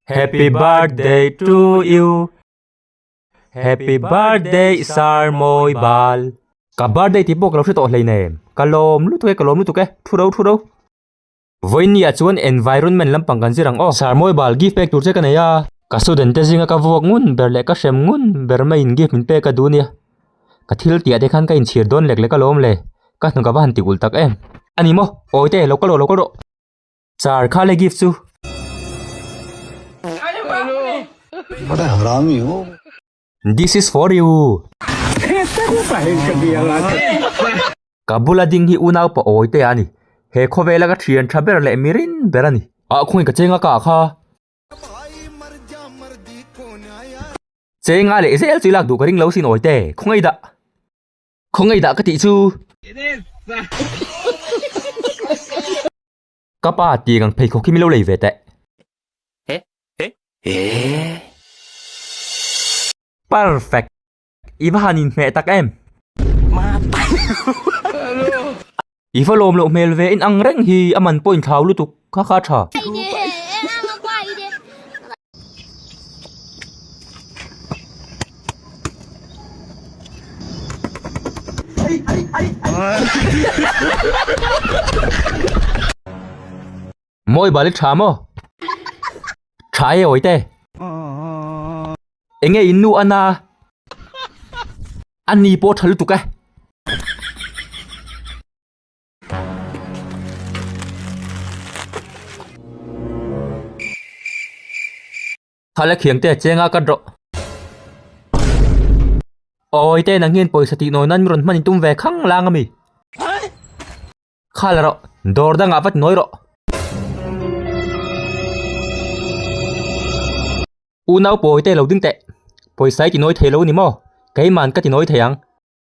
Happy birthday to you Happy birthday Sarmawi bal. Ka birthday tih pawh ka lo hre tawh hleinem. Ka lawm lutuk e, ka lawm lutuk e. Thu rau thu rau. Vawini-ah chuan environment lampang kan zir ang aw. Sir mawi bal gift pek tur che ka nei a. Ka student te zinga ka vuak ngun ber leh ka hrem ngun ber maiin gift min pek a duh nia. Ka thil tih ah te khan ka inchhir dawn lek lek alawm le. Ka hnu ka va han ti ulh tak em. A ni maw? Awi te, lo kal rawh lo kal rawh. Sir kha le gift chu. This is for you. Ka bula ding hi unaupa awite a ni. He khawvela ka thian tha ber leh mi rin ber a ni. Ah khawiin ka chenga ka kha. Chenga leh zel chu i lak duh ka ring lo sin awite. Khawngei dah. Khawngei dah ka tih chu. Ka pa tiang ang pheikhawk hi min lo lei ve teh. He he he. Perfect! I va han inhmeh tak em? I va lawm loh hmel ve in ang reng hi a man point thlau lutuk kha kha tha. Mawi bal i tha maw? Tha e awite. Enge in nu ana? A ni pawh tha lutuk e. Thala khiang te chenga ka drawh. Awi te nang hian pawisa tih nawi nan mi rawn hman in tum ve khang lang a mi. Khal rawh, dawr dangah vat nawi rawh. Unau pawi te lo ding teh. Pawisa i ti nawi thei lo a ni maw? Keiman ka ti nawi thei ang.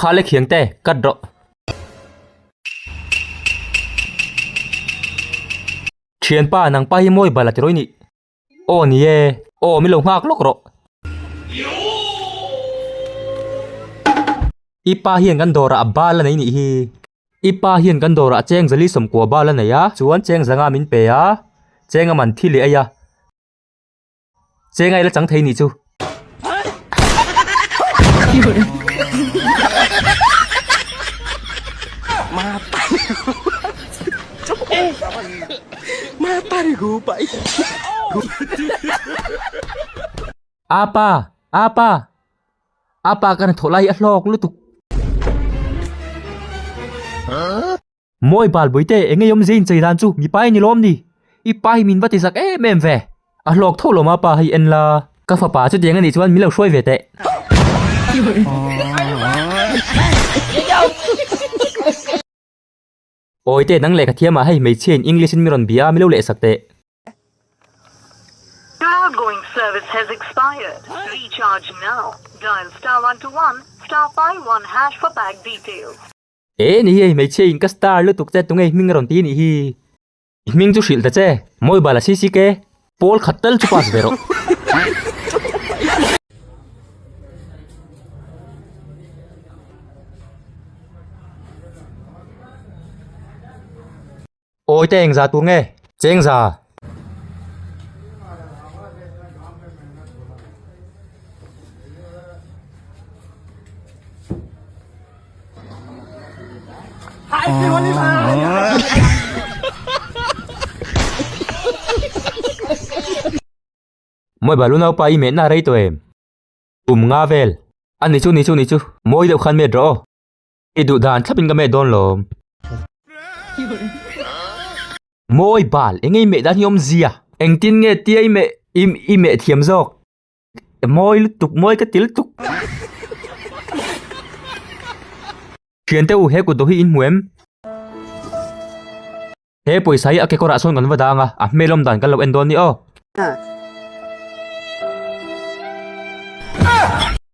Kha le khiang te cut rawh. Thianpa nang pa hi mawi bala ti rawi nih. Aw ni e, aw mi lo nghak lawk rawh. I pa hian kan dawrah a bal a nei nih hi. I pa hian kan dawrah cheng zali sawmkua bal a nei a, chuan cheng zanga min pe a, cheng a man thi leh ai a. Cheng a i la chang thei ni chu. Ma pani Ma pani gu pai. Apa, apa. Apa kan tholai a hlawk lutuk. Huh? Maw i Balbuite, eng nge i awm zia inchei dan chu? Mi pa i ni lawm ni? I pa hi min va ti zak em em ve. A hlawk tho lawm a pa hi en la. Ka fapa chuti eng a nih chuan min lo hruai ve teh. Awite nang lehkha thiamah hei hmeichhia in English in min rawn bih a, mi lo leh sak teh. Your outgoing service has expired. Recharge now. Dial star one two one star five one hash for pack details. E ni hi hei hmeichhia in ka star lutuk che tunge i hming a rawn ti nih hi? I hming chu hrilh ta che, mobile a si si ke. Pawl khat tal chu pass ve rawh. Awi te engzah tur nge? Chengza. Mawi balu naupa i mehna a rei tawh em? Kum nga vel. A ni chu, ni chu, ni chu. Mawi deuh khan met rawh aw. I duh dan thlapin ka met dawn lawm. Mawi bal, eng i meh dan hi awmzia? Engtin nge tia i meh i meh thiam zawk? Mawi lutuk, mawi ka ti lutuk. Thiante u, he kut duh hi in hmu em? He pawisa hi a kekawrah sawn kan va dang a, a hmelawm dan kan lo en dawn ni aw.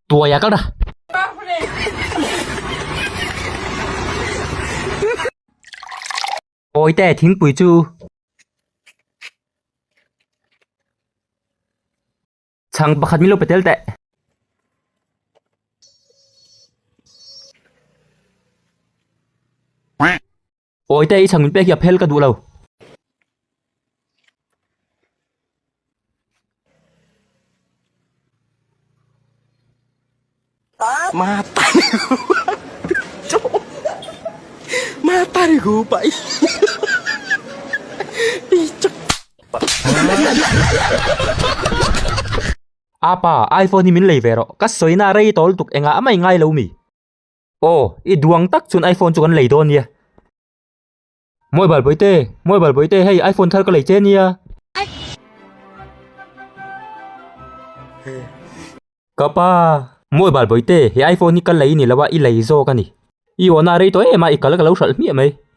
Tuai a kal ra. Pawi te thingpui chu. Chhang pakhat min lo petel teh. Awite i chhang min pek hi a phel ka duh lo. Ma tari gu pa i i chak Apa, iPhone hi min lei ve rawh. Ka sawina rei tawl tuk engah a mai ngai lo mi. Aw, i duang tak chuan iPhone chu kan lei dawn nia. Mawi balpui te, mawi balpui te, hei iPhone thar ka lei che nia. Ka pa, mawi balpui te, he iPhone hi ka lei ni lo a, i lei zawk a ni. I awhna a rei tawh em a, i kal ka lo hralh hmiah mai.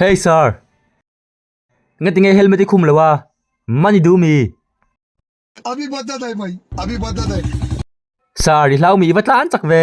Hey sir! Nge tinge helmet i khum lo a? Money duh mi! Ami va da dai mai! Ami va da dai! Sir, i hlau mi i va tlan chak ve!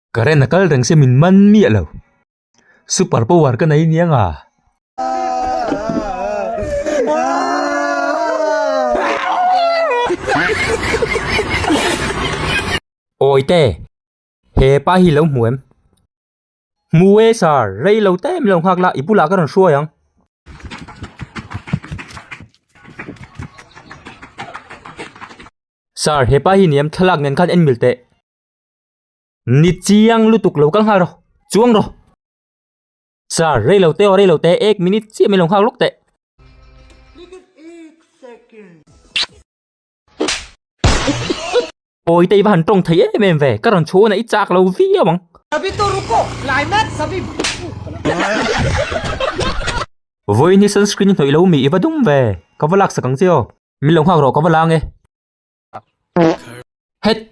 Ka ren a kal reng se min man miah lo. Super power ka nei nia nga. Awi te, he pa hi lo hmu em? Hmu e sir, rei lo te min lo nghak la, i bulah ka rawn hruai ang. Sir, he pa hi ni em? Thlalak nen khan en mil teh. Ni chiang lutuk lo kal nghal rawh, chuang rawh. Sir, rei lo teh aw, rei lo teh, ek minute chiah min lo nghak lawk teh. Pawi te i va han tawng thei em em ve, ka rawn chhun a, i chak lo viau ang. Vawiin hi sunscreen i hnawih lo mi, i va dum ve, ka va laksak ang che aw. Min lo nghak rawh, ka va lang e. Hett.